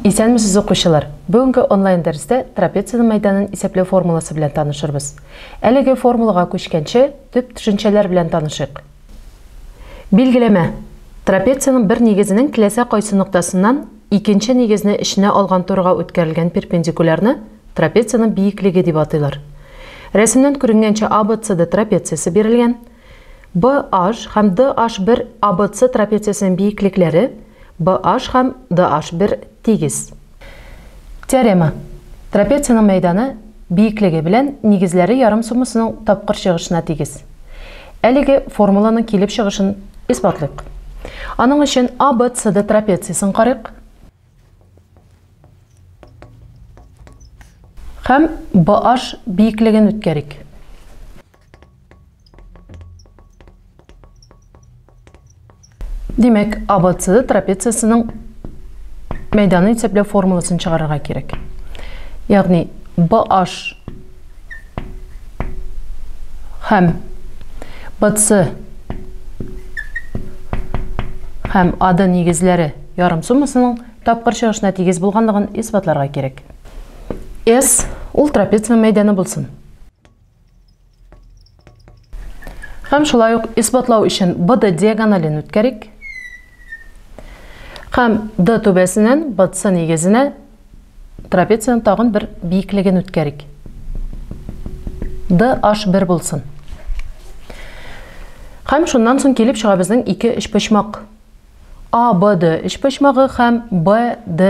Исәнмесез, укучылар! Бүгенге онлайн дәрестә трапециянең мәйданын исәпләү формуласы белән танышырбыз. Әлеге формулага күчкәнче, төп төшенчәләр белән танышыйк. Билгеләмә. Трапециянең бер нигезенең теләсә кайсы ноктасыннан икенче нигезне эченә алган турыга үткәрелгән перпендикулярны трапециянең биеклеге дип атыйлар. Рәсемнән күренгәнчә ABCD трапециясе бирелгән. BH һәм DH бер ABC трапециясенең биеклекләре BH һәм DH бер тигез. Теорема. Трапециянең мәйданы, биеклеге белән нигезләре ярым суммасының тапкыр чыгышына тигез. Әлеге формуланың килеп чыгышын исбатлыйк. Аның өчен ABCD трапециясен карыйк. Һәм BH биеклеген үткәрик. Димәк, ABCD трапециясенең мәйданы исәпләү формуласын чыгарырга кирәк. Ягъни BH һәм BC һәм AD нигезләре ярым суммасының тапкыр чыгышына тигез булганлыгын исбатларга кирәк. S ул трапеция мәйданы булсын. Һәм шулай ук исбатлау өчен BD диагонален үткәрик. Һәм D түбәсеннән BC нигезенә трапециянең тагын бер биеклеген үткәрик. DH1 булсын. Һәм шуннан соң килеп чыга безнең ике өчпочмак. ABD өчпочмагы һәм BD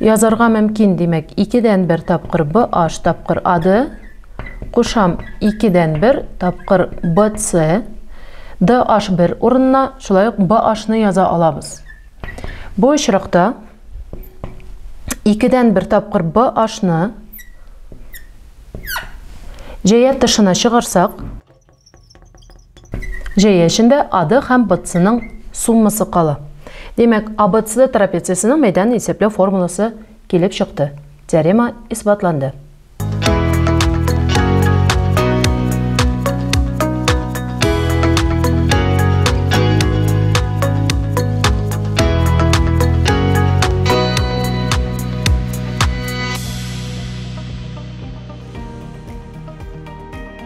Язарга мөмкин, димәк, икедән бер тапкыр Б H тапкыр АД, кушам икедән бер тапкыр Б С, Д H бер урынына, шулай ук Б H ны яза алабыз. Бу очракта икедән бер тапкыр Б H ны җәя тышына чыгарсак, Җәя эчендә АД һәм БЦның суммасы кала. Димәк, АБЦ трапециясенең мәйданын исәпләү формуласы килеп чыкты. Теорема исбатланды.